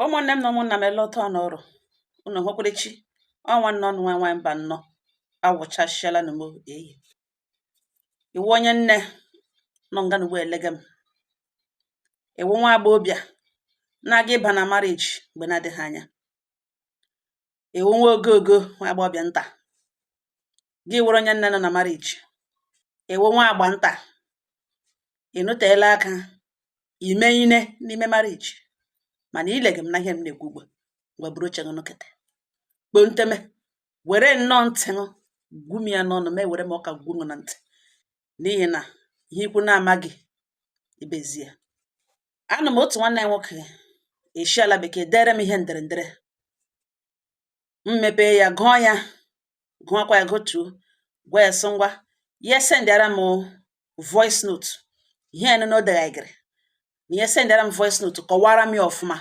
ụmụnne m na ụmụnna m ele otu n'ọrụ unu hụkwara chi ọnwa nnọ nwa nwa mba nnọ awụchasịala na m eyi ị wụ onye nne nọ nga n'ugbu a elege m ị wụ nwa agbọghọbịa na-aga ịba na marriage mgbe na-adịghị anya ị wụ nwa ogogo nwa agbọghọbịa nta gị wụrụ onye nne nọ na marriage ị wụ nwa agbọ nta ị nọteela aka ime ime n'ime marriage mana ị lege m na ihe m na-ekwu ugbu a ngwa buru oche gị nọkete kpoo nteme were nnọọ ntị ṅụ gwum ya n'ọnụ ma ewere m ụka gwum na ntị n'ihi na ihe ikwu na-amaghị ibe ezi ya a nọ m otu nwanne nwoke esi ala bekee dere m ihe ndere ndere m mepee ya gụọ ya gụọkwa ya gụtuo gwa ya sị ngwa ya sendịara m voice note ihe ya nụnụ o deghaghịrị na ya sendịara m voice note kọwara m ya ọfụma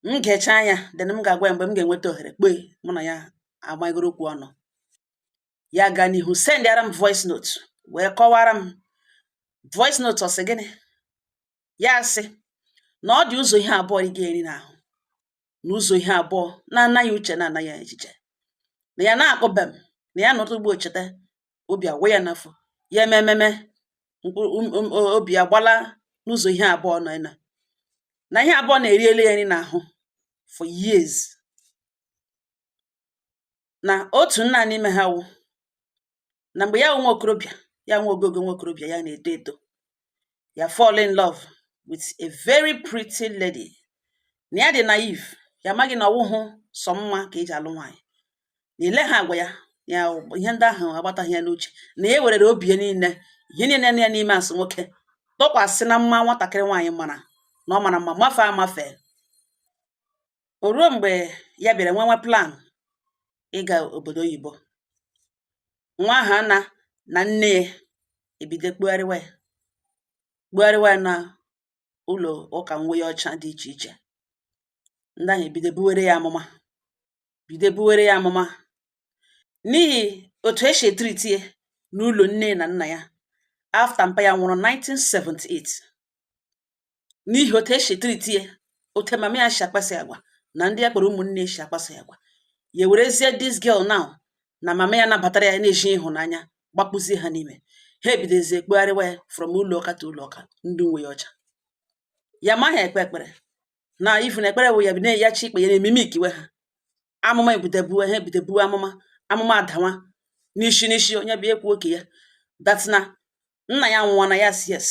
m gechaa ya then m ga-agwa ya mgbe m ga-enweta ohere kpọọ ya mụ na ya agwakọrọ okwu ọnụ ya aga n'ihu sendịara m voice note wee kọwara m voice note ọ sị gịnị ya sị na ọ dị ụzọ ihe abụọ ị ga-eri n'ahụ na ụzọ ihe abụọ na-ana ya uche na-ana ya echiche na ya na-akpọbe m na ya nọtụ ugbu a cheta obi awaa ya n'afọ ya emememe obi agbala na ụzọ ihe abụọ nna na ihe abụọ na-eriela ya eri n'ahụ for years na otu nna n'ime ha wụ na mgbe ya wụ nwa okorobịa ya nwa ogogo nwa okorobịa ya na-eto eto ya fall in love with a very pretty lady na ya dị naive ya amaghị na ọ wụhụ sọ mma ka e ji alụ nwaanyị na e legha agwa ya ihe ndị ahụ agbataghị ya n'uche na ya werere obi ya niile ihe niile nọ ya n'ime as nwoke tọkwasị na mma nwatakịrị nwaanyị mara na ọ mara mma mafe amafe O ruo mgbe ya bịara nwewe plan ịga obodo oyibo, nwa ahụ ana na nne ya ebido kpugharịwa ya kpugharịwa ya na ụlọ ụka uwe ọcha dị iche iche. Ndị ahụ ebido buwere ya amụma bido buwere ya amụma n'ihi otu e si etreat ya n'ụlọ nne na nna ya after mpa ya nwụrụ 1978. n'ihi otu e si treat ya otu mama ya si akpaso ya agwa na ndị ya kpọrọ ụmụnne si akpaso ya agwa ya werezie this girl now na mama ya nabatara ya na-eji ịhụnanya gbakpụzie ha n'ime ha ebidozie ekpugharịwa ya from ụlọ ụka to ụlọ ụka ndị uwe ọcha ya amaghị ekpe ekpere na ifu na ekpere wụ ya bi na-eyi ikpe ya na-ememe ikiwe ha amụma ebido buwe ha ebido buwe amụma amụma adawa n'isi n'isi onye bịa ekwuo nke ya that na nna ya nwụọ na ya si yes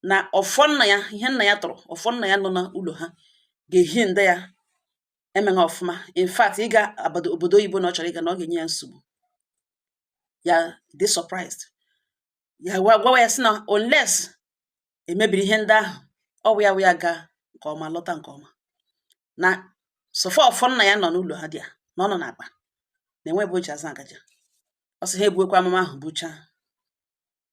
na ọfọ nna ya ihe nna ya tọrọ ọfọ nna ya nọ n'ụlọ ha ga-ehinder ya eme ọfụma in fact ịga abado obodo oyibo na ọ chọrọ ịga na ọ ga-enye ya nsogbu ya dị surprised ya gwa gwawa ya sị na unless emebiri ihe ndị ahụ ọ wụ ya wụ ya gaa nke ọma lọta nke ọma na so far ọfọ nna ya nọ n'ụlọ ha dị ya na ọ nọ n'akpa na enwe ebe o ji azụ aga ọ sị ha ebuokwa amụma ahụ buchaa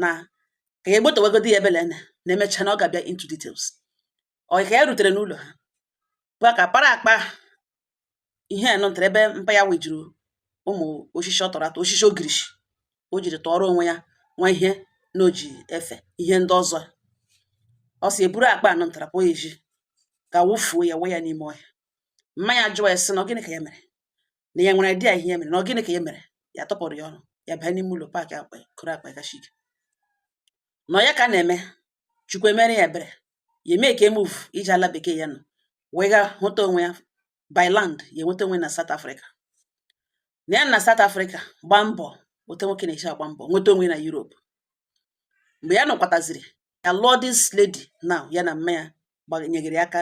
na ka ya egbotewagodi ya ebele na na emecha na ọ ga-abịa into details ọ ka ya rutere n'ụlọ ha bụ ka para akpa ihe nọ ntere ebe mpa ya wejuru ụmụ osisi ọ tọrọ atọ osisi ogirishi o jiri tọọrọ onwe ya nwa ihe na o ji efe ihe ndị ọzọ ọ sị ya buru akpa anọ ntara pụọ ezi ga wụfuo ya wụọ ya n'ime ọhịa mma ya jụwa ya sị na ọ gịnị ka ya mere na ya nwere idea ihe ya mere na ọ gịnị ka ya mere ya atụpụrụ ya ọnụ ya banye n'ime ụlọ pack akpa kụrụ akpa ya gashik na ya ka a na-eme chukwu emere ya ebere ya emake move ije ala bekee ya nọ wee ga hụta onwe ya by land ya enweta onwe na South Africa na ya na South Africa gbaa mbọ ote nwoke na-eji agba mbọ nweta onwe na Europe mgbe ya nọkwataziri ya alụọ this lady now ya na mma ya gbanyegere aka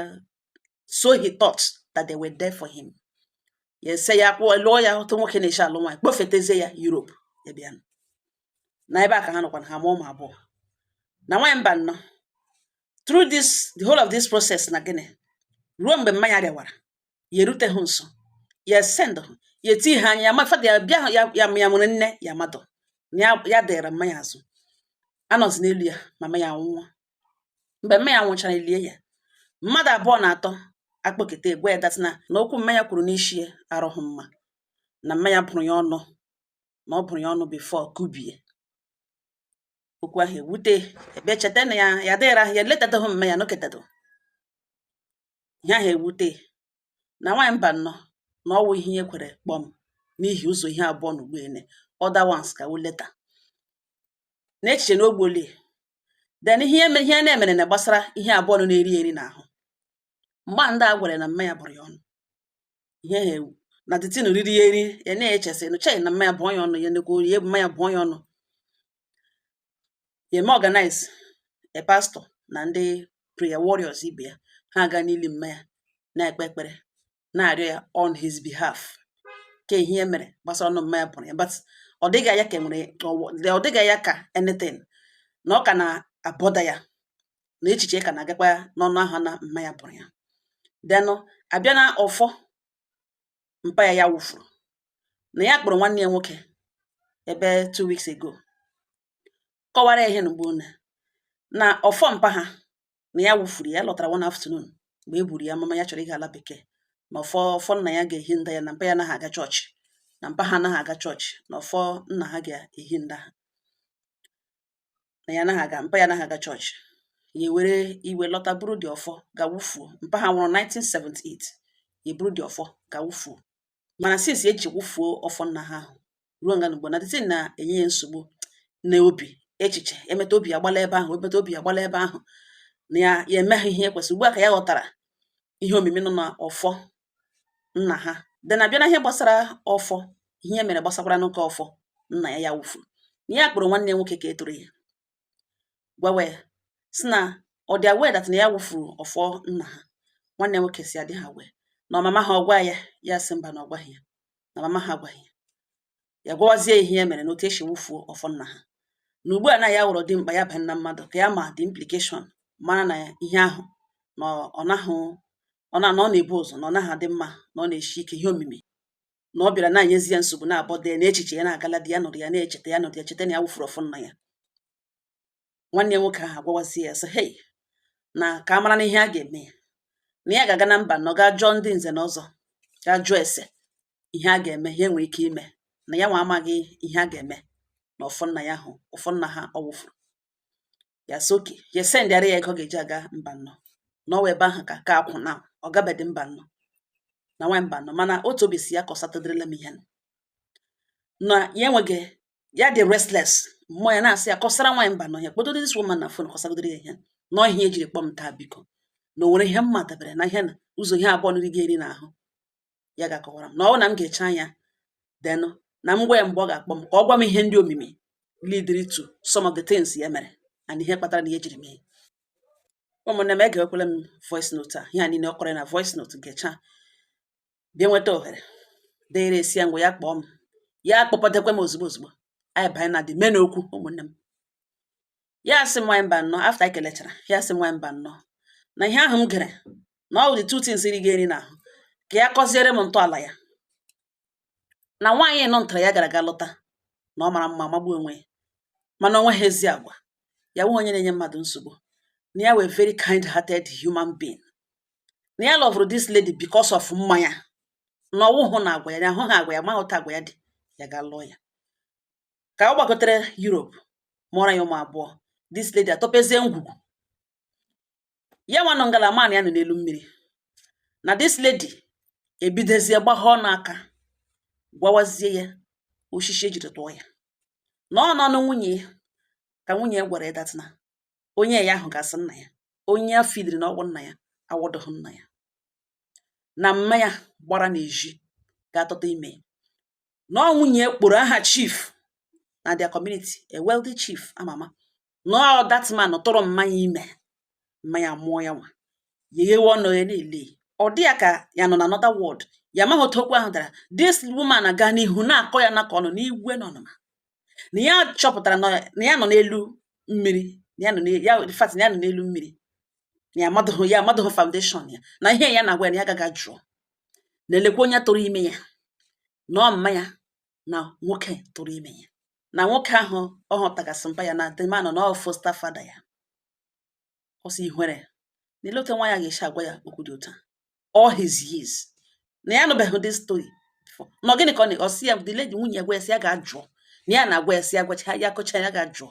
so he thought that they were there for him ya ese ya kpụọ lụọ ya otu nwoke na-eji alụ nwaanyị kpọfetezie ya Europe ya bịa na ebe a ka ha nọkwa na ha amụọ ụmụ abụọ na nwaanyị mba nnọ through this the whole of this process na gịnị ruo mgbe mma ya rịawara ya eruteghị nso ya send ya eti ha anya ya mafada ya bịa ya ya nwere nne ya mmadụ ya dịrị mma ya azụ anọzi n'elu ya mama ya nwụọ mgbe mme ya nwụchara elie ya mmadụ abụọ na atọ akpọketa gwa ya that na okwu mme ya kwuru n'isi ya arụghị mma na mme ya bụrụ ya ọnụ na ọ bụrụ ya ọnụ before o kubie okwu ahụ ewute ebe cheta na ya ya dịghịrị ahụ ya eletataghị mme ya noketado ihe ahụ ewute na nwaanyị mba nnọọ na ọwụ ihe ya kwere kpọm n'ihi ụzọ ihe abụọ na-egbu ene other ones come later na echiche na ogboli then ihe eme ihe na-emere na gbasara ihe abụọ nọ na-eri eri n'ahụ mgbe ndị a gwara na mma ya bụrụ ya ọnụ ihe ahụ ewu na the thing riri ya eri ya na-eche sị nụ chei na mma ya bụọ ya ọnụ ya nekwa ori ya mma ya bụọ ya ọnụ ya eme organize a pastor na ndị prayer warriors ibe ya ha aga n'ili mma ya na-ekpe ekpere na-arịọ ya on his behalf ka ihe e mere gbasara ọnụ mma ya bụrụ ya but ọ dịghị ya ka enwere ọ dịghị ya ka anything na ọ ka na-abọda ya na echiche ka na-agakwa ya n'ọnụ ahụ na mma ya bụrụ ya then abịa na ọfọ mpa ya ya wụfuru na ya kpọrọ nwanne ya nwoke ebe two weeks ago kọwara ya ihe na mgbe na ọfọ mpa ha na ya wụfuru ya lọtara one afternoon mgbe e buru ya mama ya chọrọ ịga ala bekee na ọfọ ọfọ nna ya ga-ehinda ya na mpa ya anaghị aga chọọchị na mpa ha anaghị aga chọọchị na ọfọ nna ha ga-ehinda ha na ya anaghị aga mpa ya anaghị aga chọọchị ya ewere iwe lọta buru the ọfọ ga wufuo mpa ha nwụrụ 1978 ya eburu the ọfọ ga wufuo mana since e ji wụfuo ọfọ nna ha ahụ ruo nga n'ugbo na the thing na-enye ya nsogbu na obi echiche emeta obi agbala ebe ahụ emeta obi agbala ebe ahụ na ya ya emeghị ihe e kwesịrị ugbu a ka ya ghọtara ihe omimi nọ na ọfọ nna ha then abịa na ihe gbasara ọfọ ihe e mere gbasakwara n'ụka ọfọ nna ya ya wụfuru na ya kpọrọ nwanne ya nwoke nke tọrọ ya gwawa ya sị na ọ dị aware that na ya wụfuru ọfọ nna ha nwanne nwoke sị adịghị aware na ọ mama ha ọ gwa ya ya sị mba na ọ gwaghị ya na mama ha agwaghị ya ya gwawazie ihe ya mere na otu e si wụfuo ọfọ nna ha na ugbu a na ya wụrụ dimkpa ya banye na mmadụ ka ya ma the implication mara na ihe ahụ na ọ naghị ọ na ọ na-ebu ụzọ na ọ naghị adị mma na ọ na-eshi ike ihe omimi na ọ bịara na-enyezi ya nsogbu na-abọda ya na echiche ya na-agala di ya nọrọ ya na-echeta ya nọrọ ya cheta na ya wụfuru ọfọ nna ya nwanne ya nwoke ahụ agwawazi ya sị hei na ka a mara na ihe a ga-eme ya na ya ga-aga na mbano ga jụọ ndị nze na ọzọ ga jụọ ese ihe a ga-eme ihe e nwere ike ime na ya nwa amaghị ihe a ga-eme na ọfọ nna ya ahụ ọfọ nna ha ọ wụfuru ya sị okay ya esendịara ya ego ọ ga-eji aga mbano na ọ wụ ebe ahụ ka ka akwụ na ọ gabedị mbano na nwa mbano mana otu obi sị ya kọsatụdịrịla m ihe nụ. na ya enweghị ya dị restless mmụọ ya na-asị ya kọsara nwaanyị mbano ya kpọtụrụ this woman na fon kọsagodoro ya ihe na ọ ihe ya jiri kpọọ m taa biko na o nwere ihe m ma dabere na ihe na ụzọ ihe abụọ ndị na-eri n'ahụ ya ga-akọwara m na ọ bụrụ na m gechaa ya then na m gwa ya mgbe ọ ga-akpọ m ka ọ gwa m ihe ndị omimi leading to some of the things ya mere and ihe kpatara na ihe jiri mee ụmụnne m egewekwala m voice note a ihe a niile ọ kọrọ na voice note gechaa bịa nweta ohere dere sị ya ngwa ya kpọọ m ya kpọpụtakwa m ozugbo ozugbo anyị banye na the main okwu ụmụnne m ya asị m mba nnọọ after ekelechara ya asị m mba nnọọ na ihe ahụ m gere na ọ dị two things ị ga-eri n'ahụ ka ya kọziere m ntọala ya na nwaanyị nọ ntara ya gara aga lụta na ọ mara mma magbuo onwe ya mana o nwehụ ezi agwa ya nwe onye na-enye mmadụ nsogbu na ya wụ very kind hearted human being na ya lọvụrụ this lady because of mma ya na ọ wụhụ na agwa ya na ahụghị agwa ya ma otu agwa ya dị ya ga lụọ ya ka ọ gbagotere Europe mụọrọ ya ụmụ abụọ this lady atọpezie ngwugwu ya nwa nọ ngala man ya nọ n'elu mmiri na this lady ebidozie gbagha ọnụ aka gwawazie ya osisi ejiri tụọ ya na ọ n'ọnụ nwunye ya ka nwunye ya gwara ya that na onye ya ahụga as nna ya onye ya fidiri na ọ wụ nna ya awụdụghị nna ya na mma ya gbara n'ezi ga tụta ime na ọ nwunye kpọrọ aha chief na their community a wealthy chief ama ama na ọ that man tụrụ mma ya ime mma ya mụọ ya nwa ya eghewe ọnụ ya na-ele ọ dị ya ka ya nọ na another world ya amaghị otu okwu ahụ dara this woman aga n'ihu na-akọ ya na ka ọ nọ n'iwe na ọnụma na ya chọpụtara na na ya nọ n'elu mmiri na ya nọ n'e- ya in fact na ya nọ n'elu mmiri na ya amadụghị ya amadụghị foundation ya na ihe ya na-agwa ya na ya gaa jụọ na elekwa onye tụrụ ime ya na ọ mma ya na nwoke tụrụ ime ya na nwoke ahụ ọ hụtaga as mpa ya na the man na ọ foster father ya ọ sị ihwere na ele otu nwaanyị a ga-esi agwa ya okwu dị otu a all his years na ya anụbeghị this story before na ọ gịnị ka ọ na ọ sị ya the lady nwunye ya gwa ya sị ya gaa jụọ na ya na-agwa ya sị ya gwacha ya kọcha ya gaa jụọ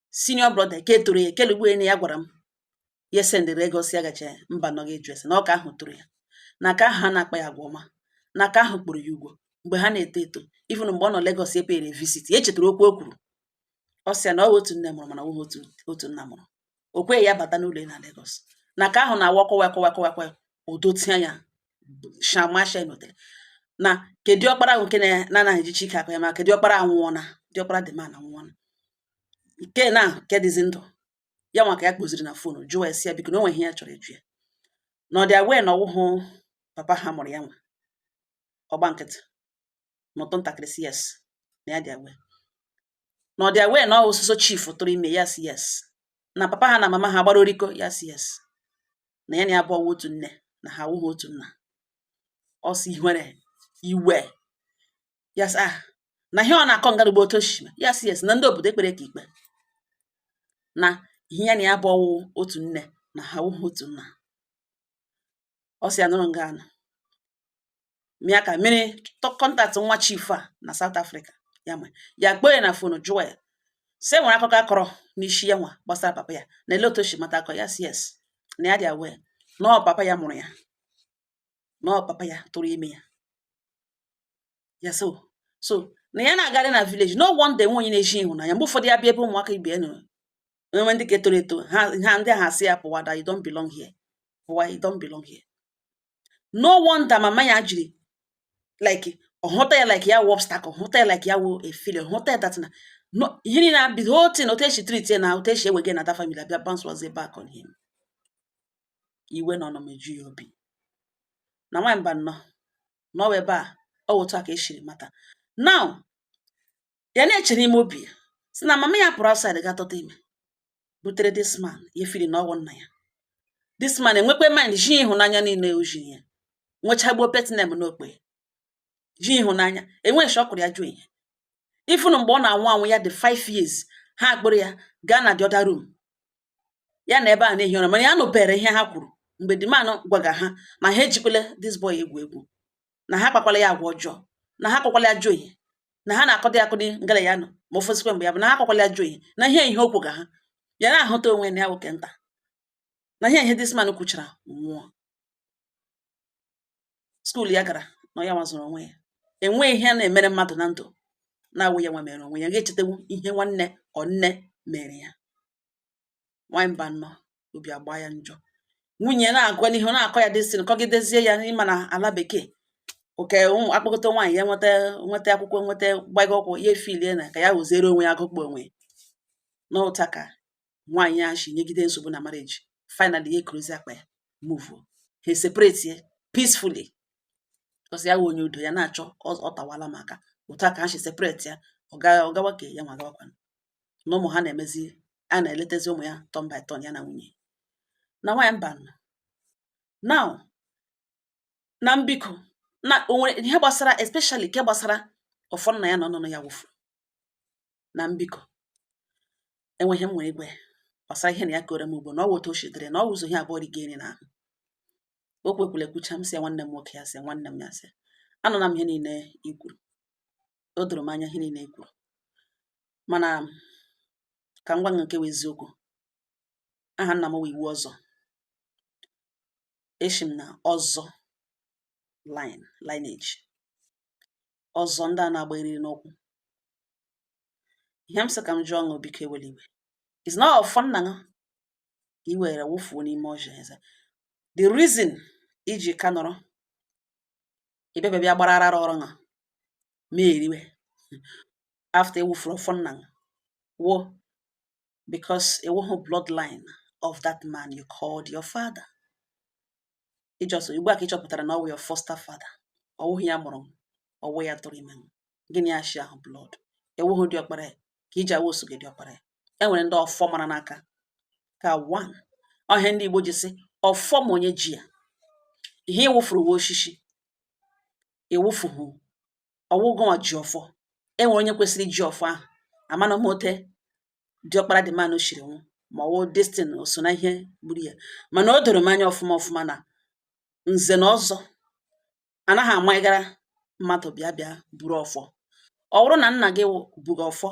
senior brother ke tọrọ ya kelugbu enyi ya gwara m ya sendịrị ego si agache mba nọ gị jụrụ ese na ọ ke ahụ tọrọ ya na ke ahụ ha na-akpa ya agwa ọma na ke ahụ kpọrọ ya ugwo mgbe ha na-eto eto even mgbe ọ nọ Lagos epere visit ya echetara okwu o kwuru ọ sị ya na ọ bụ otu nne mụrụ mana ọ bụghị otu otu nna mụrụ o kweghị ya bata n'ụlọ ya na Lagos na ke ahụ na-awa kọwa kọwa kọwa kọwa odotia ya shamasha notere na kedu ọkpara ahụ nke na- na-anaghị ejichi ike akpa ya ma kedu ọkpara anwụọna diọkpara dị mana anwụọna nke na nke dịzi ndụ ya nwa ka ya kpọziri na phone jụọ sị ya biko na o nwe ihe ya chọrọ ịjụ ya na ọ dị aware na ọ wụhụ papa ha mụrụ ya nwa ọ gba nkịtị mụtụ ntakịrị sị yes na ya dị aware na ọ dị aware na ọ wụ so so chief tụrụ ime ya sị yes na papa ha na mama ha gbara oriko ya sị yes na ya na ya bụkwa otu nne na ha awụghị otu nna ọ sị iwe ya sị ah na ihe ọ na-akọ ngarugbo otu o shi mee ya sị yes na ndị obodo ekpere ka ikpe na ihe ya na ya bụ ọ wụ otu nne na ha awụhụ otu nna ọ sị ya nụrụ nga anụ mịa ka mmiri contact nwa chief a na South Africa ya ma ya kpọọ ya na phone jụọ ya sị e nwere akụkọ a kọrọ n'isi ya nwa gbasara papa ya na ele otu o shi mata akọ ya sị yes na ya dị aware na ọ papa ya mụrụ ya na ọ papa ya tụrụ ime ya ya so so na ya na-agarị na village no wonder enwe onye na-eji ịhụnanya mgbe ụfọdụ ya bịa ebe ụmụaka ibe ya nọrọ e nwee ndị ka etoro eto ha ha ndị ahụ asị ya pụwa that you don't belong here pụwa you don't belong here no wonder mama ya jiri like ọ hụta ya like ya wụ obstacle ọ hụta ya like ya wụ a failure ọ hụta ya that na no ihe niile na the whole thing otu e si treat ya na otu e si ewege na that family abịa bounce was back on him ka iwe na ọnụma eju ya obi na nwaanyị Mbano na ọ wụ ebe a ọ otu a ka e siri mata now ya na-eche n'ime obi ya sị na mama ya pụrụ outside gaa tụta ime butere this man ya feel na ọ wụ nna ya this man enwekwe mind ji ịhụnanya niile o ji ya nwechagbuo petinem n'okpe ji ịhụnanya enweghị shọkụrụ ya ajọ ihe even mgbe ọ na-anwụ anwụ ya dị 5 years ha akpọrọ ya gaa na the other room ya nọ ebe a na-ehi ụra mana ya nụbere ihe ha kwuru mgbe the man gwaga ha na ha ejikwala this boy egwu egwu na ha akpakwala ya agwa ọjọọ na ha akpakwala ya ajọ ihe na ha na-akọdị akụdị ngala ya nọ ma ofesikwa mgbe ya bụ na ha akpakwala ya ajọ ihe na ihe ihe o kwuga ha ya na-ahụta onwe na ya nwoke nta na ihe ihe this man kwuchara nwụọ skuul ya gara na ya nwa zụrụ onwe ya enweghị ihe na-emere mmadụ na ndụ na-awụ ya nwa mere onwe ya ga-echetewu ihe nwanne ọ nne mere ya nwaanyị Mbano obi agba ya njọ nwunye ya na-agwa ya ihe na-akọ ya this thing kọgidezie ya na ị ma na ala bekee oke ụmụ akpọkọta nwaanyị ya nweta nweta akwụkwọ nweta gbago ọkwụ ya efilie na ka ya hụziere onwe ya agụkpọ onwe na otu a ka nwaanyị ya shi nyegide nsogbu na marriage finally ya ekuruzi akpa ya move ha separate peacefully because ya wụ onye udo ya na-achọ ọ tawala maka otu a ka ha shi separate ya ọ gawa ka ya nwa gawakwana na ụmụ ha na-emezi a na-eletezi ụmụ ya turn by turn ya na nwunye na nwaanyị Mbano na m biko na o nwere ihe gbasara especially nke gbasara ọfọ nna ya na ọnụnụ ya wụfu na m biko enweghị m nwee iwe gbasara ihe na ya kọọrọ m ugbo na ọ wụ otu o shi dịrị na ọ wụzị ihe abụọ rigo eri na ahụ o kwekwula ekwucha m sị nwanne m nwoke ya sị nwanne m ya sị anụla m ihe niile i kwuru o doro m anya ihe niile i kwuru mana ka m gwa ṅụ nke wụ eziokwu aha nna m wụ iwu ọzọ eshi m na ọzọ lineage ọzọ ndị a na-agba eriri n'ụkwụ ihe m sị ka m jụọ ṅụ biko ewela iwe is not ọfọ nna gị i were wụfuo n'ime ọhịa is the reason i ji ka nọrọ ị bịa ebe a bịa gbara arara ọrụ ṅa ma eriwe after ị wụfuru ọfọ nna ṅụ wụ because ị wụhụ bloodline of that man you called your father is just ugbu a ka ị chọpụtara na ọ wụ your foster father ọ wụghị ya mụrụ ọ wụ ya tụrụ ime gịnị ya shi ahụ blood ị wụhụ diọkpara ya ka i ji awụ osogị diọkpara ya e nwere ndị ọfọ mara n'aka ka one ọ ihe ndị Igbo ji sị ọfọ ma onye ji ya ihe ị wụfuru wụ oshishi ị wụfuhụ ọ wụhụ gị ji ọfọ e nwere onye kwesịrị iji ọfọ ahụ amana m ote diọkpara the man ahụ shiri nwụọ ma ọ wụ this thing o so n'ihe gburu ya mana o doro m anya ọfụma ọfụma na nze na ọzọ anaghị amaghara mmadụ bịa bịa buru ọfọ ọ bụrụ na nna gị buga ọfọ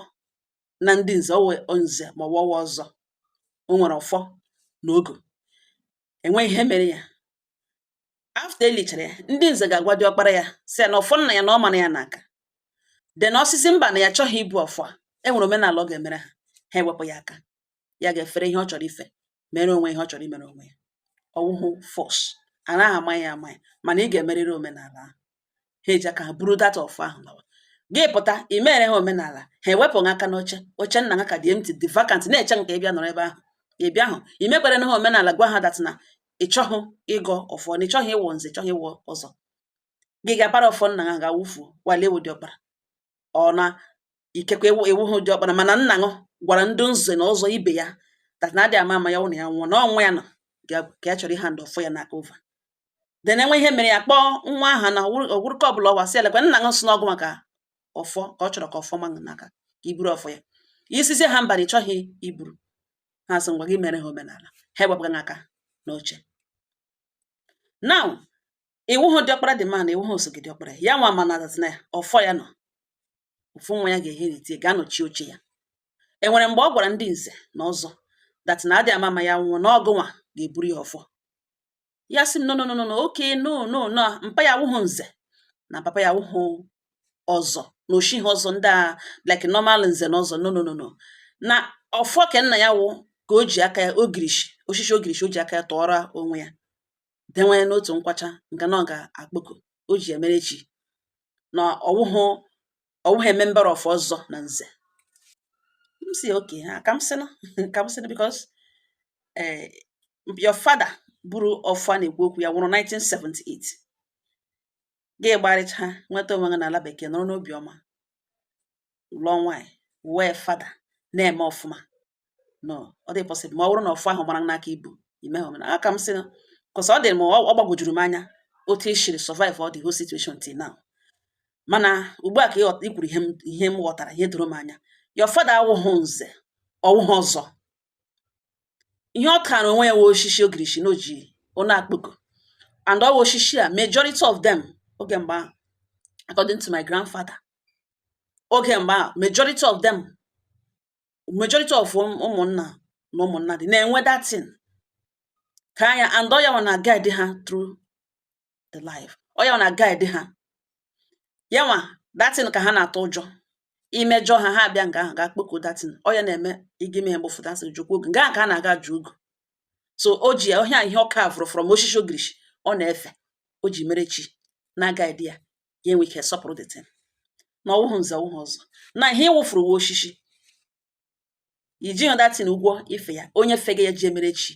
na ndị nze ọ wụ nze ma ọ wụ ọ wụ ọzọ o nwere ọfọ na ogo e nwee ihe mere ya after elichara ya ndị nze ga-agwa diọkpara ya sị ya na ọfọ nna ya na ọ mara ya n'aka then ọ sịzie mba na ya chọghị ibu ọfọ a e nwere omenala ọ ga-emere ha ha ewepụ ya aka ya ga-efere ihe ọ chọrọ ife mere onwe ihe ọ chọrọ imere onwe ya ọ wụhụ force a naghị amanye amanye mana ị ga-emerịrị omenala ahụ ha eji aka ha buru that ọfọ ahụ lawa gị pụta i mere ha omenala ha ewepụ ha aka n'oche oche nna ha ka dị empty dị vacant na-eche nke ị bịa nọrọ ebe ahụ ị bịahụ i mekwere na ha omenala gwa ha that na ị chọghị ịgọ ọfọ na ị chọghị ịwụ nze chọghị ịwụ ọzọ gị ga-apara ọfọ nna ha ga-awụfuo while ị wụ diọkpara ọ na ikekwe ị wụhụ diọkpara mana nna ṅụ gwara ndị nze na ọzọ ibe ya that na adị ama ama ya ụna ya nwụọ na ọ nwa ya nọ ga- ka ya chọrọ ịhand ọfọ ya n'aka over then e nwee ihe mere ya kpọọ nwa aha na ọgwụrụka ọbụla ọwa sị elekwe nna ṅụ sị na ọ gị maka ọfọ ka ọ chọrọ ka ọfọ ma ṅụ n'aka ka i buru ọfọ ya ị sịzie ha mba na ị chọghị iburu ha sị ngwa gị mere ha omenala ha ewepụ gị aka n'oche now ị wụhụ diọkpara the man ị wụhụ osogị diọkpara ya nwa mana that na ọfọ ya nọ ofu nwa ya ga-inherit ga-anọchi oche ya e nwere mgbe ọ gwara ndị nze na ọzọ that na adị ama ama ya nwụọ na ọ gị nwa ga-eburu ya ọfọ ya sị m no no no no okay no no no mpa ya wụhụ nze na papa ya wụhụ ọzọ na o shihụ ọzọ ndị a like normal nze na ọzọ no no no no na ọfọ ke nna ya wụ ka o ji aka ya ogirishi oshishi ogirishi o ji aka ya tụọrọ onwe ya dewere n'otu nkwacha nke na ọ ga-akpọku o ji emere chi na ọwụhụ a member of ọzọ na nze m sị okay ka m sịnụ ka m sịnụ because eh, your father buru ọfọ a na-ekwu okwu ya nwụrụ 1978 gị gbarịcha nweta onwe gị n'ala bekee nọrọ n'obiọma lụọ nwaanyị wee father na-eme ọfụma no ọ dị possible ma ọ bụrụ na ọfọ ahụ gbara n'aka ibu ime ha omenala aka m sị because ọ dị m ọ gbagwojuru m anya otu i shiri survive all the whole situation till now mana ugbu a ka ị kwuru ihe m ghọtara ihe doro m anya your father awụhụ nze ọwụhụ ọzọ ihe ọ tara onwe ya wụ oshishi ogirishi na oji ọ na-akpọku and ọ wụ oshishi a majority of them oge mgbe ahụ according to my grandfather oge mgbe ahụ majority of them majority of ụmụnna na ụmụnna dị na-enwe that thing ka anya and ọ yanwa na guide ha through the life ọ yanwa na guide ha yanwa that thing ka ha na-atụ ụjọ imejọ ha ha abịa nga ahụ ga-akpọku that thing ọ ya na-eme ị ga mee mgbe ụfọdụ a sị jukwa ogu nga ahụ ka a na-aga ju ogu so o ji ya ọhịa ihe ọ kavụrụ from oshishi ogirishi ọ na-efe o ji mere chi na guide ya ya enwe ike sọpụrụ the thing na ọwụhụ nze ọwụhụ ọzọ na ihe ị wụfuru wụ oshishi i jihụ that thing ụgwọ ife ya onye fega ya ji emere chi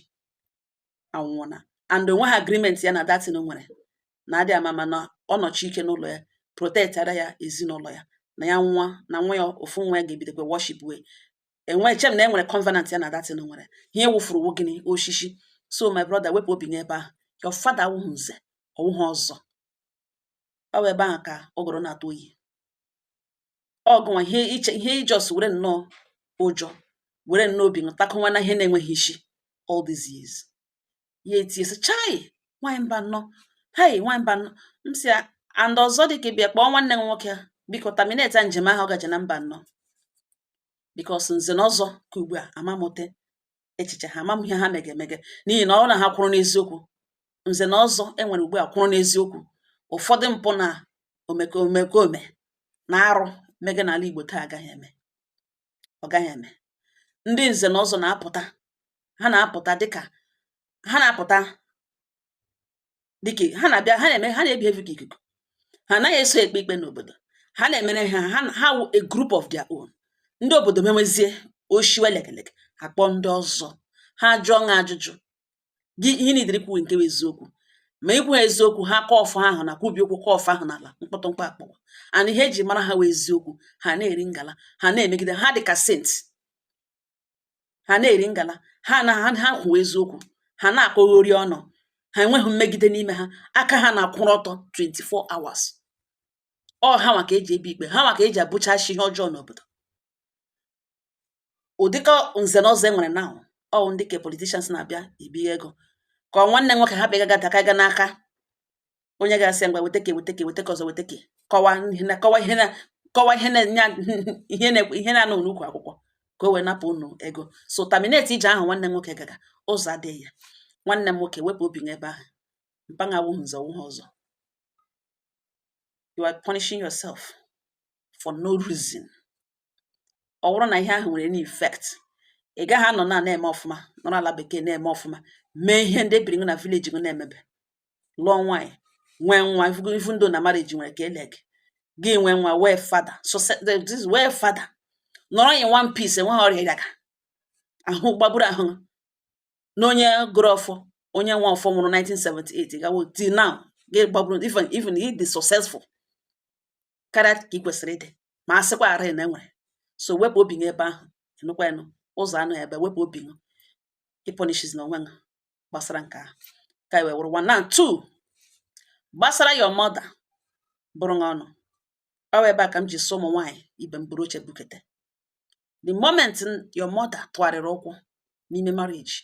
anwụọna and o nwehụ agreement ya na that thing nwere na adị ama ma na ọ nọchi ike n'ụlọ ya protectara ya ezinụlọ ya na ya nwa na nwa ya ofu nwa ya ga-ebidokwa worship wee enwe chem na enwere covenant ya na that thing nwere ihe ị wụfuru wụ gịnị oshishi so my brother wepụ obi n'ebe ahụ your father awụhụ nze ọwụhụ ọzọ ọ wụ ebe ahụ ka ụgụrụ na-atụ oyi ọgụnwa ihe i just were nnọọ ụjọ were nnọọ obi ntakụnwa na ihe na-enweghị isi all these years ya etie sị chai nwanyị Mbano hei nwanyị Mbano m sị ya and ọzọ dị ka ibe ya kpọọ nwanne m nwoke a biko terminate njem ahụ ọ gaje na Mbano because nze na ọzọ ka ugbu a amamụte echiche ha ama m ihe ha mege emege n'ihi na ọ wụrụ na ha kwụrụ n'eziokwu nze na ọzọ e nwere ugbu a kwụrụ n'eziokwu ụfọdụ mpụ na omekome na arụ mege n'ala Igbo taa agaghị eme ọ gaghị eme ndị nze na ọzọ na-apụta ha na-apụta dịka ha na-apụta dịka ha na-abịa ha na-eme ha na-ebehave ka ikuku ha anaghị eso ekpe ikpe n'obodo ha na-emere ha ha ha wụ a group of their own ndị obodo mewezie oshiwe lekeleke a kpọọ ndị ọzọ ha jụọ ha ajụjụ gị ihe nidiri kwuwe nke wụ eziokwu ma i kwuhụ eziokwu ha kụọ ọfọ ahụ na kwubi okwu kụọ ọfọ ahụ n'ala mkpọtụmkpọ akpọwa and ihe e ji mara ha wụ eziokwu ha na-eri ngala ha na-emegide ha dị ka saint ha na-eri ngala ha ha kwuo eziokwu ha na-akọghori ọnụ ha enweghị mmegide n'ime ha aka ha na-akwụrụ ọtọ 24 hours ọ ha nwa ka eji ebi ikpe ha nwa ka eji abụchachi ihe ọjọọ n'obodo ụdịka nze na ọzọ e nwere now ọ ndị ke politicians na-abịa ebi ego ka ọ nwanne nwoke ha bịa ga daka ga n'aka onye ga-asị ngwa weta ke weta ke ọzọ weta ke kọwa ihe na-anọ n'ukwu akwụkwọ ka o wee napụ unu ego so terminate ije ahụ nwanne m nwoke gaga ụzọ adịghị ya nwanne m nwoke wepụ obi n'ebe ahụ mpa gị wụ nze na ọzọ you are punishing yourself for no reason ọ bụrụ na ihe ahụ nwere any effect ị gaghị anọ na na-eme ọfụma nọrọ ala bekee na-eme ọfụma mee ihe ndị ebiri na village gị na-emebe lụọ nwaanyị nwee nwa even though na marriage nwere ka ele gị gị nwee nwa wee fada wee fada nọrọ in one piece enweghị ọrịa ịdaga ahụ gbagburu ahụ na onye gọrọ ọfọ onye nwe ọfọ nwụrụ 1978 gawo till now gị gbagburu even even ị dị successful karịa ka ị kwesịrị ịdị ma a sịkwara na e nwere so wepụ obi gị ebe ahụ enụkwa enụ ụzọ anụ ebe wepụ obi gị ị punishzina onwe gị gbasara nke a ka e wee wụrụ one na two gbasara your mother bụrụ gị ọnụ ọ wụ ebe a ka m ji sị ụmụ nwaanyị ibe m buru oche bukete the moment n- your mother tụgharịrị ụkwụ n'ime marriage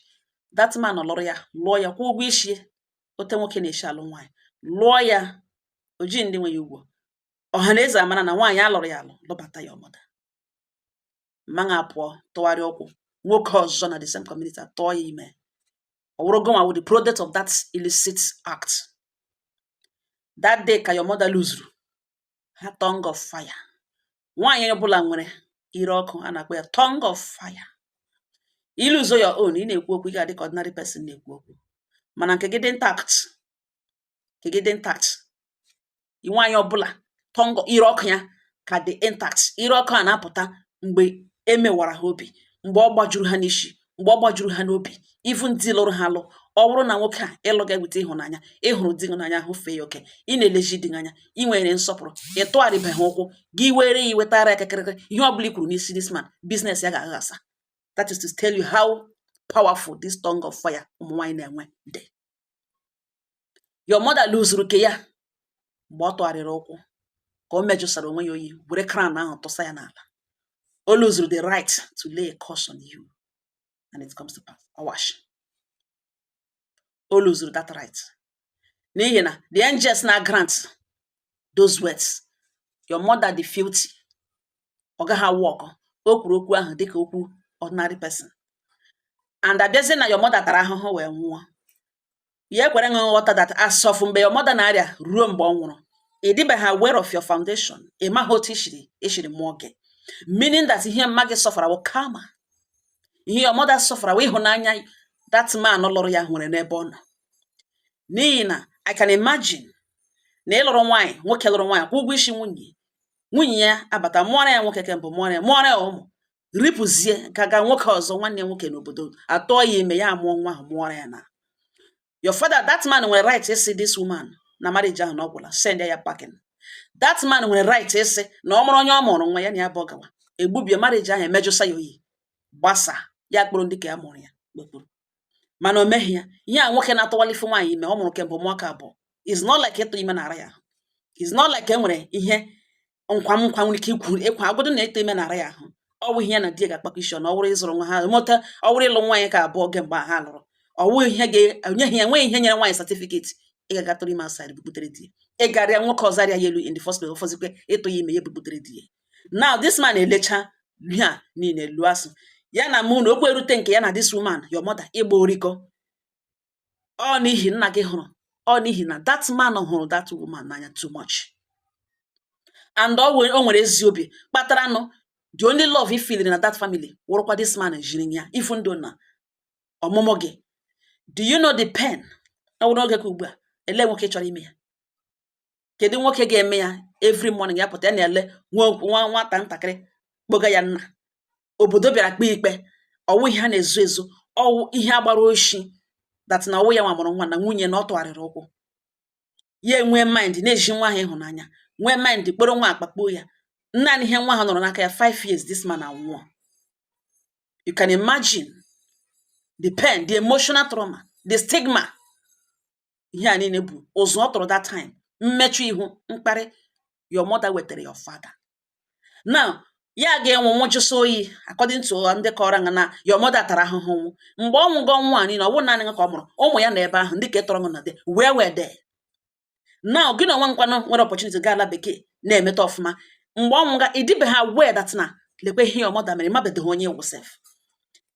that man lụrụ ya lụọ ya kwụọ ụgwọ isi ote nwoke na-eshi alụ nwaanyị lụọ ya o ji ndị nwe ya ụgwọ ọha na eze amara na nwaanyị alụrụ ya alụ lụbata your mother ma apụọ tụgharịa ụkwụ nwoke ọzọ na the same community atụọ ya ime ọ wụrụ gụnwa wụ the product of that illicit act that day ka your mother luzuru her tongue of fire nwaanyị ọbụla nwere ire ọkụ a na-akpọ ya tongue of fire i luzo your own ị na-ekwu okwu ị ga-adị ka ordinary person na-ekwu okwu mana nke gị dị intact nke gị dị intact nwaanyị ọbụla tongue ire ọkụ ya ka dị intact ire ọkụ a na-apụta mgbe e mewara ha obi mgbe ọ gbajuru ha n'isi mgbe ọ gbajuru ha n'obi even di lụrụ ha alụ ọ bụrụ na nwoke a ị lụ gị weta ịhụnanya ị hụrụ di gị n'anya hụfee ya oke ị na-elezi di gị anya ị nwere nsọpụrụ ị tụgharịbeghị ụkwụ gị were ya wetara ya kakịrịkị ihe ọ bụla i kwuru n'isi this man business ya ga-aghasa that is to tell you how powerful this tongue of fire ụmụ nwaanyị na-enwe dị your mother luzuru ke ya mgbe ọ tụgharịrị ụkwụ ka o mejụsara onwe ya oyi were crown ahụ tụsa ya n'ala o luzuru the right to lay a curse on you and it comes to pass awash o luzuru that right n'ihi na the angels na grant those words your mother dị filthy ọ gaghị a-work o kwuru okwu ahụ dịka okwu ordinary person and abịazie na your mother tara ahụhụ wee nwụọ ya ekwere nghọta that as of mgbe your mother na-arịa ruo mgbe ọ nwụrụ ị dịbeghị aware of your foundation ị maghị otu e siri mụọ gị meaning that ihe mma gị sọfara wụ karma ihe your mother sọfara wụ ịhụnanya that man lụrụ ya nwere n'ebe ọ nọ n'ihi na I can imagine na ịlụrụ nwaanyị nwoke lụrụ nwaanyị kwụ ụgwọ isi nwunye nwunye ya abata mụọra ya nwoke kemgbe mụọra ya mụọra ya ụmụ ripụzie ka ga nwoke ọzọ nwanne ya nwoke n'obodo atụọ ya ime ya amụọ nwa ahụ mụọrọ ya na your father that man nwere right ịsị this woman na marriage ahụ na ọ gwụla send ya packing that man nwere right ịsị na ọ mụrụ onye ọ mụrụ nwa ya na ya bụ ọgawa egbubie marriage ahụ emejụsa ya oyi gbasa ya kpọrọ ndị ka a mụrụ ya kpekpuru mana o meghị ya ihe a nwoke na-atụwala ife nwaanyị ime ọ mụrụ kemgbe ụmụaka abụọ is not like ịtụ ime na-ara ya is not like e nwere ihe nkwa nwere ike ikwu ịkwa agụdụ na ịtụ ime na-ara ya ahụ ọ bụ ihe na di ya ga-akpakọ isi na ọ wụrụ ịzụrụ nwa ha mụta ọ wụrụ ịlụ nwaanyị ka abụọ kemgbe ha lụrụ ọ wụghị ihe ga-enyeghị ya nweghị ihe nyere nwaanyị certificate ị ga-aga tụrụ ime outside bubutere di ya ịgarịa nwoke ọzọ arịa ya elu in the first place ọ fọzikwe ịtụ ya ime ya bubutere di ya now this man elecha ihe a niile eloo asụ ya na mụ na okwu erute nke ya na this woman your mother ịgba orikọ ọ n'ihi nna gị hụrụ ọ n'ihi na that man hụrụ that woman n'anya too much and o nwere ezi obi kpatara nụ the only love i feel-iri na that family wụrụkwa this man jiri ya ifu ndụ na ọmụmụ gị do you know the pain ọ wụrụ oge ka ugbu a ele nwoke chọrọ ime ya kedu nwoke ga-eme ya every morning ya pụta ya na-ele nwa nwa nwata ntakịrị kpọga ya nna obodo bịara kpee ikpe ọ wụ ihe a na-ezo ezo ọ wụ ihe a gbara oshi that na ọ wụ ya nwa mụrụ nwa na nwunye na ọ tụgharịrị ụkwụ ya enwee mind na-ezi nwa ahụ ịhụnanya nwee mind kpọrọ nwa a kpakpuo ya naanị ihe nwa ahụ nọrọ n'aka ya 5 years this man anwụọ you can imagine the pain the emotional trauma the stigma ihe a niile bụ ụzụ ọ tụrụ that time mmechu ihu mkparị your mother wetara your father now ya ga-anwụ nwụjụsa oyi according to ndị kọrọ nga na your mother tara ahụhụ nwụ mgbe ọ nwụgo nwa niile ọ bụrụ naanị ka ọ mụrụ ụmụ ya na ebe ahụ ndị ka etọrọ na de where were they now gị na onwe nkwanụ nwere opportunity gaa ala bekee na-emeta ọfụma mgbe ọ nwụga ị dịbeghị aware that na lekwe ihe your mother mere mabedoghị onye ị wụ sef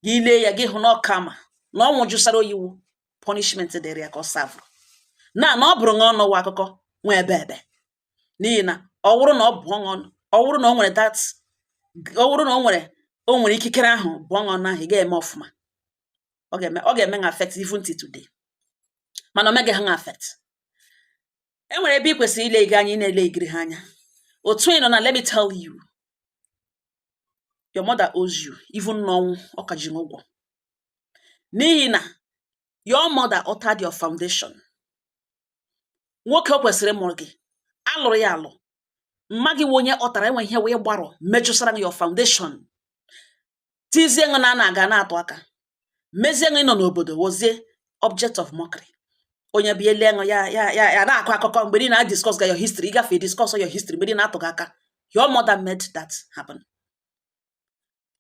gị lee ya gị hụ na ọ karma na ọ nwụjụsara oyi wụ punishment dịrị ya ka ọ serve na na ọ bụrụ na ọnụ wụ akụkọ nwe ebe ebe n'ihi na ọ wụrụ na ọ bụ ọnụ ọ wụrụ na o nwere that ọ wụrụ na o nwere o nwere ikikere ahụ bụọ ọnụ ahụ ị ga-eme ọfụma ọ ga-eme ṅụ affect even till today mana o meghị ṅụ affect e nwere ebe ị kwesịrị ileghị anya ị na-elegiri ha anya otu ị nọ now let me tell you your mother owes you even n'ọnwụ ọ ka ji ṅụ ụgwọ n'ihi na your mother altered your foundation nwoke o kwesịrị ịmụrụ gị a lụrụ ya alụ mma gị wụ onye ọ tara enwe ihe wee gbarụọ mejụsara gị your foundation tizie ṅụ na na-aga na-atụ aka mezie ṅụ ịnọ n'obodo wozie object of mockery onye bịa ele ṅụ ya na-akọ akụkọ mgbe niile a discuss ga your history ị gafe discuss your history mgbe niile a tụ gị aka your mother made that happen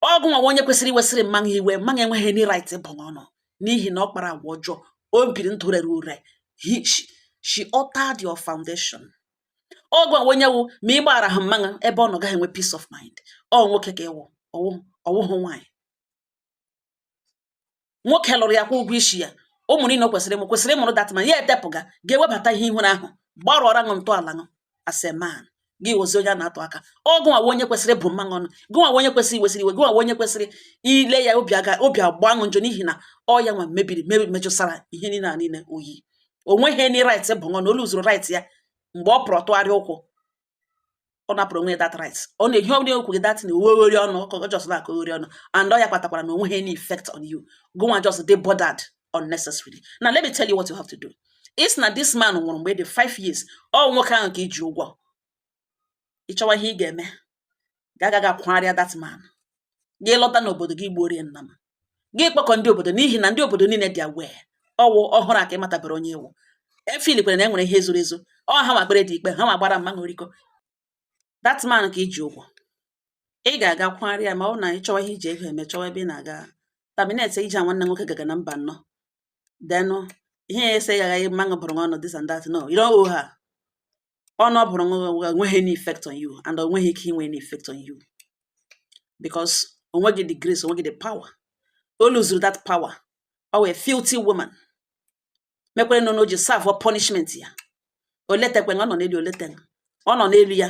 ọ gụ nwa wụ onye kwesịrị iwesịrị mma ṅụ iwe mma ṅụ enweghị any right ịbụ ọnụ n'ihi na ọ kpara agwa ọjọọ o biri ndụ rere ure she altered your foundation ọ gụ nwa wụ onye wụ ma ị gbagharaghị mma ṅụ ebe ọ nọ gaghị enwe peace of mind ọ nwoke ka ị wụ ọ wụhụ nwaanyị nwoke lụrụ ya kwụọ ụgwọ isi ya ụmụ niile o kwesịrị ịmụ kwesịrị ịmụrụ that man ya etepụga ga-ewebata ihe ị hụrụ ahụ gbarụọra ṅụ ntọala ṅụ as a man gị wozi onye a na-atụ aka ọ gụ nwa wụ onye kwesịrị ịbụ mma ṅụ ọnụ gụ nwa wụ onye kwesịrị iwesịrị iwe gụ nwa wụ onye kwesịrị ile ya obi aga obi agba ṅụ njọ n'ihi na ọ ya nwa mebiri mebi mejụsara ihe niile a niile oyi o nweghị any right ịbụ ṅụ ọnụ o luzuru right ya mgbe ọ pụrụ tụgharịa ụkwụ ọ napụrụ onwe that right ọ na-ehi ọ na-ekwu gị that na ọ wụ oghori ọnụ ka ọ just na-akọ oghori ọnụ and ọ ya kpatakwara na o nweghị any effect on you gụ nwa just dị bothered unnecessarily now let me tell you what you have to do is na this man nwụrụ mgbe ị dị five years ọ nwoke ahụ ka i ji ụgwọ ị chọwa ihe ị ga-eme gaa ga kwagharịa that man gị lọta n'obodo gị gbuoro ya nnama gị kpọkọ ndị obodo n'ihi na ndị obodo niile dị aware ọ wụ ọhụrụ a ka ị matabere onye ị wụ i feelkwara na e nwere ihe zoro ezo ọ ha nwa kpere the ikpe ha nwa gbara mma ṅụ oriko that man ka i ji ụgwọ ị ga-aga kwagharịa ya ma ọ na ị chọwa ihe i ji ego eme chọwa ebe ị na-aga terminate ije a nwanne nwoke gaga na mba nnọọ then ihe ya ese ya aghaghị mma ṅụ bụrụ ọnụ this and that no you don't owe her ọnụ ọ bụrụ enweghị any effect on you and o nweghị ike inwe any effect on you because o nweghị the grace o nweghị the power o luzuru that power ọ wụ a filthy woman mekwara nọ n'oji serve punishment ya o letakwana ọ nọ n'elu o leta ọ nọ n'elu ya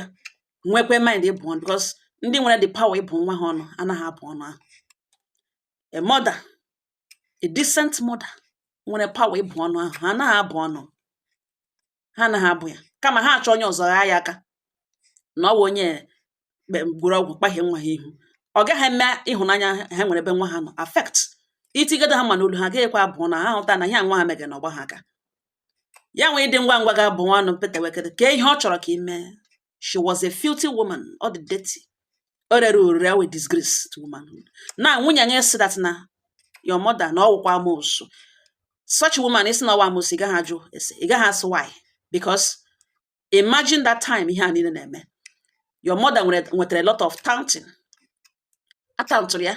nwekwe mind ịbụ ọnụ because ndị nwere the power ịbụ nwa ha ọnụ anaghị abụ ọnụ ahụ a mother a decent mother nwere power ịbụ ọnụ ahụ ha anaghị abụ ọnụ ha anaghị abụ ya kama ha achọ onye ọzọ ghaa ya aka na ọ bụ onye gwọrọ ọgwụ kpahie nwa ha ihu ọ gaghị eme ịhụnanya ha nwere ebe nwa ha nọ affect i tigide ha mma n'olu ha gaghịkwa abụ na ha hụta na ihe nwa ha mege na ọgba ha aka ya nwee ịdị ngwa ngwa ga-abụ nwa ọnụ mpetewekede ka ihe ọ chọrọ ka ị mee she was a filthy woman ọ dị dirty o rere orire ọwụ disgrace to womanhood na nwee onye sị that na your mother na ọwụkwa amosu such woman ị sị na ọwa amosu ị gaghị ajụ ese ị gaghị asị why because imagine that time ihe a niile na-eme your mother nwetara a lot of taunting a tauntụrụ ya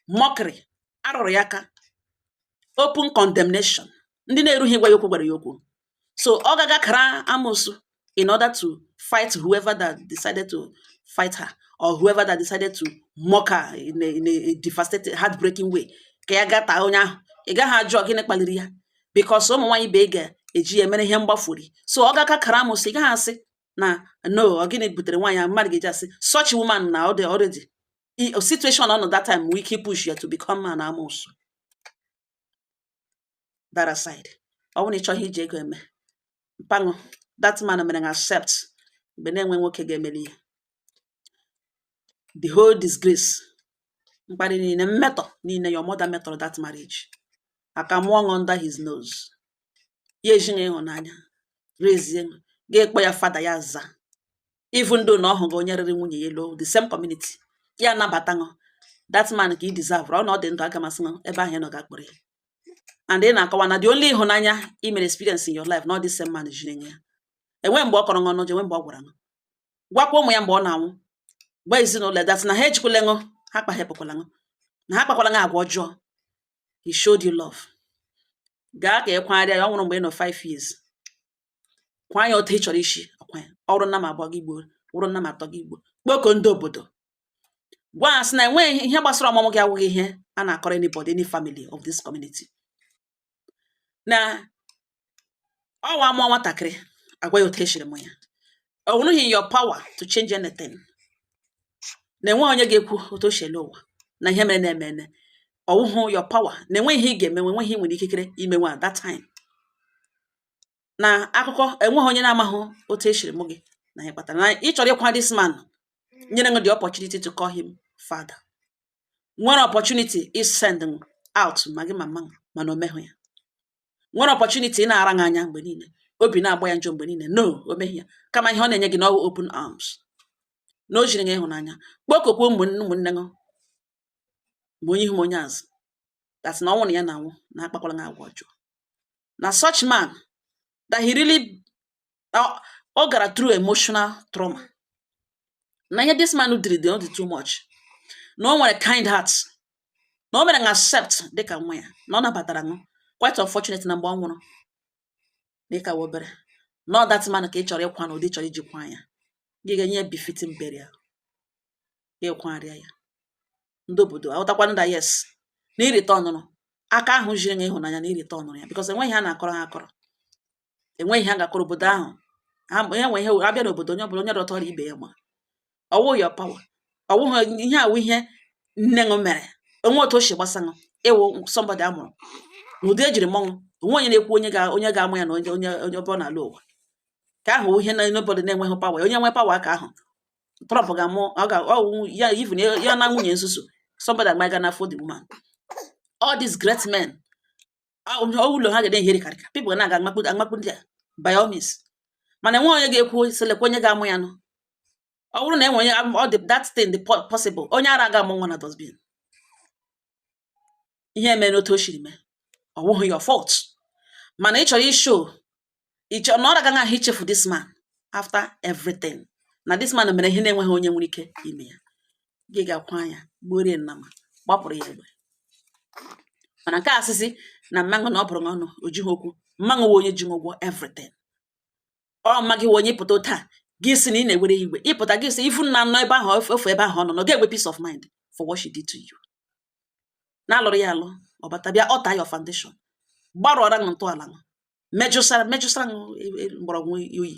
mockery a rụrụ ya aka open condemnation ndị na-erughị ịgwa ya okwu gwara ya okwu so ọ gaga kara amosu in order to fight whoever that decided to fight her or whoever that decided to mock her in a, in a devastating heartbreaking way ka ya gaa taa onye ahụ ị gaghị ajụ gịnị kpaliri ya because ụmụ nwaanyị ibe ga-eji ya mere ihe mgbafuri so ọ gaka kara amosu ị gaghị asị na no ọ gịnị butere nwaanyị ahụ mmadụ ga-eji asị such woman na the already situation ọ nọ that time nwee ike ipush ya to become an amosu that aside ọ bụrụ na ị chọọ ihe i ji ego eme mpa ṅụ that man mere ṅụ accept mgbe na-enwe nwoke ga-emeli ya the whole disgrace mkparị niile mmetọ niile your mother metọrọ that marriage aka mụọ ṅụ under his nose ya ejiri ịhụnanya rezie gị ị kpọọ ya father ya aza even though na ọ hụghị onye rere nwunye ya elu the same community ya anabata ṅụ that man ka ị deserve ọ na ọ dị ndụ aga m asị ṅụ ebe ahụ ị nọ gaa kpọrọ ya and ị na-akọwa na the only ịhụnanya i mere experience in your life na ọ the same man jiri nye ya enwe mgbe ọ kọrọ ṅụ ọnụ ọjọọ enwe mgbe ọ gwara ṅụ gwakwa ụmụ ya mgbe ọ na-anwụ gwa ezinụlọ ya that na ha ejikwala ṅụ ha kpahepụkwala ṅụ na ha kpakwala ṅụ agwa ọjọọ he showed you love gaa ka ị kwagharịa ya ọ nwụrụ mgbe ị nọ 5 years kwaa ya otu ị chọrọ isi akwa ya ọwụrụ nnama abụọ gị egbuo wụrụ nnama atọ gị egbuo kpoko ndị obodo gwa ha sị na enweghị ihe gbasara ọmụmụ gị awụghị ihe a na-akọrọ anybody any family of this community na ọwa a mụọ nwatakịrị a gwa ya otu e shiri mụ ya ọ wụrụghị your power to change anything na enweghị onye ga-ekwu otu o shi lọ ụwa na ihe mere na-eme eme ọwụhụ your power na enweghị ihe ị ga-emenwe enweghị ihe ị nwere ikikere imenwe at that time na akụkọ enweghị onye na-amaghị otu e shiri mụ gị na ihe kpatara na ị chọrọ ịkwa this man nyere ṅụ the opportunity to call him father nwere opportunity isend out ma gị ma mama mana o meghị ya nwere opportunity ị na-ara gị anya mgbe niile obi na-agba ya njọ mgbe niile no o meghị ya kama ihe ọ na-enye gị na ọwụ open arms na o jiri gị ịhụnanya kpokokwa ụmụnne ụmụnne gị ma onye ihu ma onye azụ gwa sị na ọnwụ na ya na-anwụ na akpakwala gị agwa ọjọọ na such man that he really na ọ gara through emotional trauma na ihe this man diri dị dị too much na o nwere kind heart na o mere ṅụ accept dịka nwa ya na ọ nabatara ṅụ quite unfortunate na mgbe ọ nwụrụ na ị ka wụ obere na ọ that man ka ị chọrọ ịkwa na ụdị ị chọrọ iji kwa ya gị ga-enye befitting burial ịkwarịa ya ndị obodo aghọtakwa that yes na ị returnụrụ aka ahụ jiri nye ịhụnanya na ị returnụrụ ya because enweghị ha na-akọrọ ha akọrọ enweghị ha ga-akọrọ obodo ahụ ha onye nwe ihe abịa n'obodo onye ọbụla onye rọtọrọ ibe ya ma ọ wụ your power ọ wụghị ihe a wụ ihe nne ṅụ mere o nwe otu o si gbasa ṅụ ị wụ somebody a mụrụ n'ụdị e jiri mụọ ṅụ o nwe onye na-ekwu onye ga onye ga-amụ ya na onye onye onye ọbụla n'ala ụwa ka ahụ ihe na nobody na-enweghị power onye nwe power ka ahụ Trump ga-amụ ọ ga ọ wụ- ya even ya ya na nwunye nsusu somebody abaga n'afọ the woman all these great men ọ ọ ụlọ ha ga-ede ihere karịka people ga na-aga amakpu amakpu ndị a by all means mana enweghị onye ga-ekwu sị lekwa onye ga-amụ ya nụ ọ bụrụ na enwe onye am- ọ dị that thing dị po- possible onye ara ga-amụ nwa na dustbin ihe mere n'otu o siri mee ọ wụghị your fault mana ị chọrọ ishow ị chọrọ na ọ ra gị ahụ ichefu this man after everything na this man mere ihe na-enweghị onye nwere ike ime ya gị ga-akwa ya gbuoro ya nnama gbapụrụ ya egbe mana nke a sị sị na mma ṅụ na ọ bụrụ ọnụ o jighị okwu mma ṅụ wụ onye ji ṅụ ụgwọ everything ọ ma gị onye ị pụta taa gị si na ị na-ewere iwe ị pụta gị si ifu na nọ ebe ahụ ofu ebe ahụ ọ nọ na ọ ga-enwe peace of mind for what she did to you na a lụrụ ya alụ ọ bata bịa alter your foundation gbarụọra ṅụ ntọala ṅụ mejụsara mejụsara ṅụ e, e, mgbọrọgwụ o yi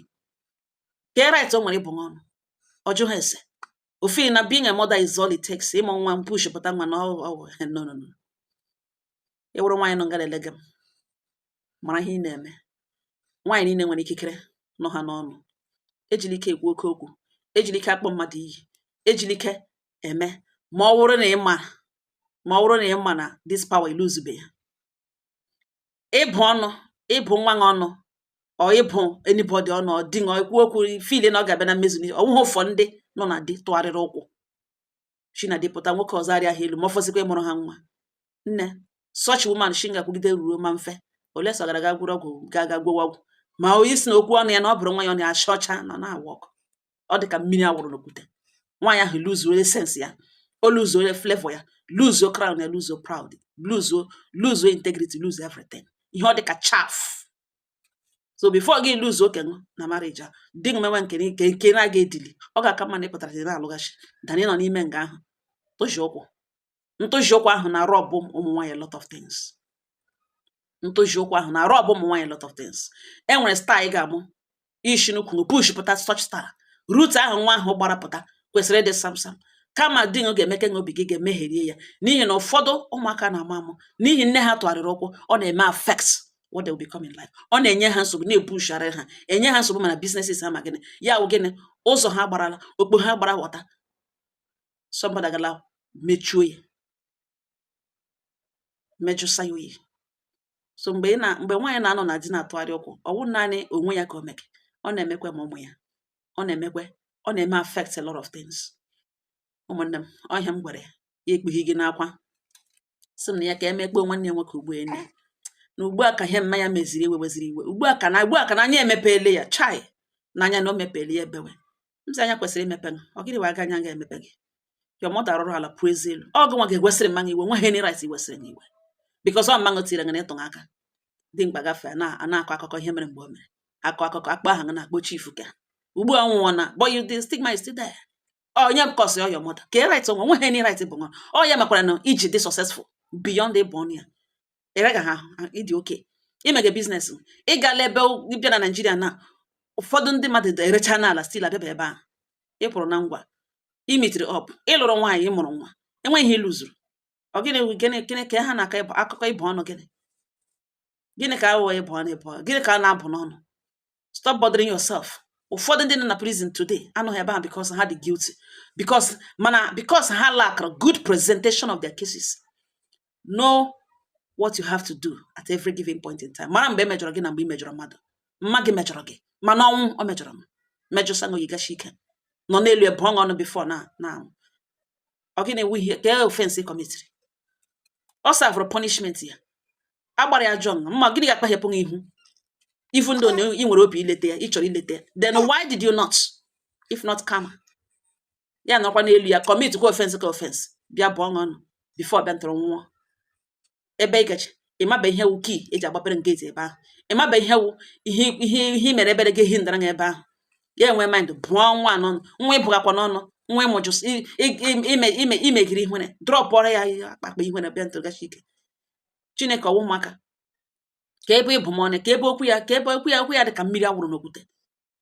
ka right o nwere ịbụ ọnụ o jighị ya esi ofe na being a mother is all it takes ịmụ nwa m push pụta nwa na ọ wụ no no no ị wụrụ nwaanyị nọ nga na-elega m mara ihe ị na-eme nwaanyị niile nwere ikikere nọ ha n'ọnụ ejila ike ekwu oke okwu ejila ike akpọ mmadụ iyi ejila ike eme ma ọ wụrụ na ị ma ma ọ wụrụ na ị ma na this power i luzube ya ịbụ ọnụ ịbụ nwa gị ọnụ ọ ịbụ anybody ọnụ ọ dị ọ ekwu okwu feel na ọ ga-abịa na mmezu ọ wụghị ụfọ ndị nọ na di tụgharịrị ụkwụ shi na di pụta nwoke ọzọ arịa ha elu ma ọ fọzikwa ịmụrụ ha nwa nne such woman shi nga kwugide ruo Mamfe unless ọ gara ga gwọrọ ọgwụ gaa ga gwọwa ọgwụ ma ọ wụ ịsị na okwu ọnụ ya na ọ bụrụ nwa ya ọnụ such ọnụ anaghị awork ọ dị ka mmiri a wụrụ n'okwute nwaanyị ahụ luzuo essence ya o luzuo flavor ya luzuo crown ya luzuo proud luzuo luzuo integrity luzuo everything ihe ọ dị ka chaff so before gị lose oke nụ na marriage a di gị mewe nke nke nke na-aga edili ọ ga-aka mma na ị pụtara di na-alụghachi than ịnọ n'ime nga ahụ tụji ụkwụ ntụji ụkwụ ahụ na-arob ụmụ nwaanyị lot of things ntụji ụkwụ ahụ na-arob ụmụ nwaanyị lot of things e nwere star ị ga-amụ ishi n'ukwu push pụta such star route ahụ nwa ahụ gbara pụta kwesịrị ịdị samsam kama di gị ga-emeke na obi gị ga-emegherie ya n'ihi na ụfọdụ ụmụaka na-amụ amụ n'ihi nne ha tụgharịrị ụkwụ ọ na-eme affect what they will become in life ọ na-enye ha nsogbu na-ebushara ha enye ha nsogbu ma na businesses ha ma gịnị ya wụ gịnị ụzọ ha gbarala okpo ha gbara wọta somebody agala mechuo ya mejụsa ya oyi so mgbe ị na mgbe nwaanyị na-anọ na di na-atụgharị ụkwụ ọ wụ naanị onwe ya ka o meke ọ na-emekwa ma ụmụ ya ọ na-emekwa ọ na-eme affect a lot of things ụmụnne m ọ ihe m gwara ya ekpughi gị n'akwa sị m na ya ka emekpoo nwanne ya nwoke ugbu ene na ugbu a ka ihe mma ya meziri iwe weziri iwe ugbu a ka na ugbu a ka na anya emepeele ya chai na anya na o mepeele ya ebewe m sị anya kwesịrị imepe m ọ gịnị wa aga anya ga-emepe gị your mother rụrụ ala pụọ ezi elu ọ gị nwa ga-ewesịrị mma nụ iwe nweghị any right iwesịrị m iwe because ọ mmanụ tiri gị na ịtụghị aka dị mkpa gafee na a na-akọ akụkọ ihe mere mgbe o mere akọ akụkọ akpa aha gị na-akpọ chifu ka ugbu a nwụọ na but you the stigma is still there onye m kọsị your mother ka e right onwe nweghị any right bụ nwa ọ ya makwara na i ji dị successful beyond ịbụ ọnụ ya eregaghị ha ị dị okay i mega business ị gala ebe bịa na naijiria na ụfọdụ ndị mmadụ erecha n'ala still abịaba ebe a ị pụrụ na ngwa i meetiri up ị lụrụ nwaanyị ị mụrụ nwa enweghị ihe i luzuru ọ gịnị gịnị gịnị ka ha na-akọ akụkọ ịbụ ọnụ gịnị gịnị ka aghụghọ ịbụ ọnụ ịbụ gịnị ka a na-abụ n'ọnụ stop bothering yourself ụfọdụ ndị nọ na prison today anọghị ebe ahụ because ha dị guilty because mana because ha lack good presentation of their cases know what you have to do at every given point in time mara mgbe e mejọrọ gị na mgbe ị mejọrọ mmadụ mma gị mejọrọ gị mana ọnwụ ọ mejọrọ m mejọsa na oyigachi ike nọ n'elu ebe ọṅụ ọnụ before na na ọ gịnị ewu ihe ka e offense commitiri ọ servụrụ punishment ya agbara ya jọn mma gịnị ga-akpahepụ gị ihu even though na ị nwere obi ileta ya ị chọrọ ileta ya then why did you not if not karma ya nọkwa n'elu ya commit kwa offense ka offense bịa bụọ nụ ọnụ before bịa ntọrọ nwụọ ebe ịgachi ịmaba ihe wu key e ji agbapere gate ebe ahụ ịmaba ihe wu ihe ihe ihe mere ebere gị ehi ndara ebe ahụ ya enwe mind bụọ nwa n'ọnụ nwa ịbụghakwa n'ọnụ nwa ịmụjụ imegiri ihere dropụọrọ ya ihe akpakpa ihere bịa ntụrụgachi ike chineke ọ wụ maka ka ebe ị bụ m ọnụ ka ebe okwu ya ka ebe okwu ya okwu ya dị ka mmiri a wụrụ n'okwute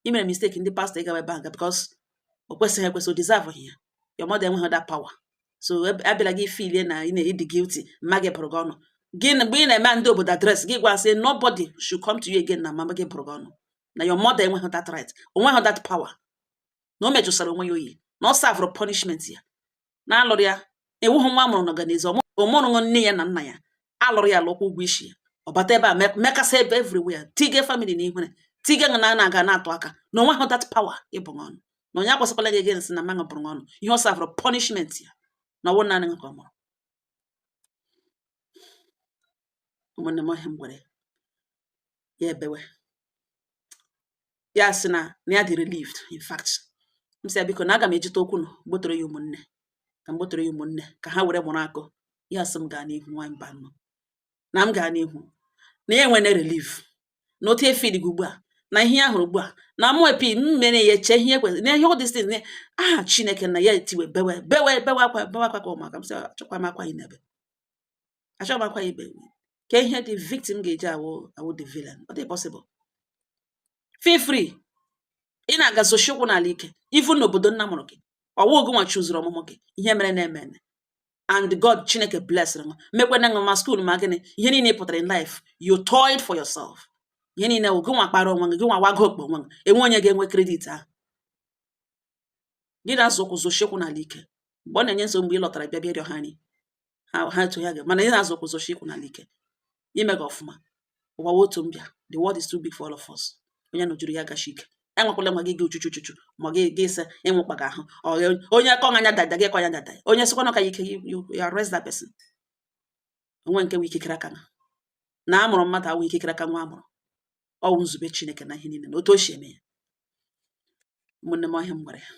i mere mistake ndị pastọ ị gawa ebe aga because o kwesịghị ekwesị o deserve ya your mother enweghị that power so abịala gị feelie na ị na-edi guilty mama gị bụrụ gị ọnụ gị mgbe ị na-eme ndị obodo address gị gwa sị nobody should come to you again na mama gị bụrụ gị ọnụ na your mother enweghị that right o nweghị that power na o mejụsara onwe ya oyi na ọ servụrụ punishment ya na a lụrụ ya ị wụghị nwa a mụrụ n'ọganizu ọ mụrụ nụ nne ya na nna ya a lụrụ ya alụ kwụọ ụgwọ isi ya ọ bata ebe a mekasa ebe everywhere tige family na ihere tige na na-aga na-atụ aka na o nweghị that power ịbụ ọnụ na onye agwasịkwala gị again sị na mama nụ bụrụ ọnụ ihe ọ servụrụ punishment ya na ọ wụ naanị ka ọ mụrụ ụmụnne m ọ ihe m gwara ya ya ebewe ya sị na na ya dị relieved in fact m sị ya biko na aga m ejite okwu nụ gbotoro ya ụmụnne ka m gbotoro ya ụmụnne ka ha were mụrụ akọ ya sị m gaa n'ihu nwa mba nọ na m gaa n'ihu na ya enwene relief na otu efe dị gị ugbu a na ihe ya hụrụ ugbu a na mụ epi m mere ya chee ihe kwesịrị na ihe ọ dịsị na aha chineke na ya etiwe bewe bewe bewe akwa bewe akwa ka ụmụaka m sị achọkwa m akwa ị na-ebe achọghị m akwa i be ka ihe the victim ga-eji awụ awụ the villain ọ dị possible feel free ị na-aga zọsie ụkwụ n'ala ike even n'obodo nna mụrụ gị ọ wụ gị nwa haziri ọmụmụ gị ihe mere na-eme eme and god chineke blessịrị m mekwena nwa ma school ma gịnị ihe niile pụtara in life you toiled for yourself ihe niile wụ gị nwa kpara onwe gị gị nwa wago okpo onwe gị enwe onye ga-enwe credit ahụ gị na-azọ ụkwụ zọsie ụkwụ n'ala ike mgbe ọ na-enye nsogbu mgbe ị lọtara bịa bịa rịọ ha nri ha ha etu ya ga mana ị na-azọ ụkwụ zọsie ụkwụ n'ala ike i mega ọfụma ụwa wụ otu mbịa the world is too big for all of us onye nọjuru ya gachi ike enwekwala nwa gị gị uchuchu uchuchu ma gị gị ise ịnwụ kpaga ahụ Ọ gị- onye kọ anya dada gị kọ anya dada onye sịkwa na ọ ka ya ike you- you- you arrest that person o nwe nke wee ikikere aka na a mụrụ mmadụ awụ ikikere aka nwa a mụrụ ọ wụ nzube chineke na ihe niile na otu o si eme ya ụmụnne m ọ ihe m gwara ya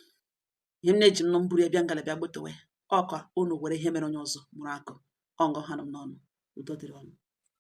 ihe m na-eji m nụ m buru ya bịa nga a bịa gbotowe ọ ka unu were ihe mere onye ọzọ mụrụ akọ ọ nga ọ ha nụ m n'ọnụ udo dịrị unu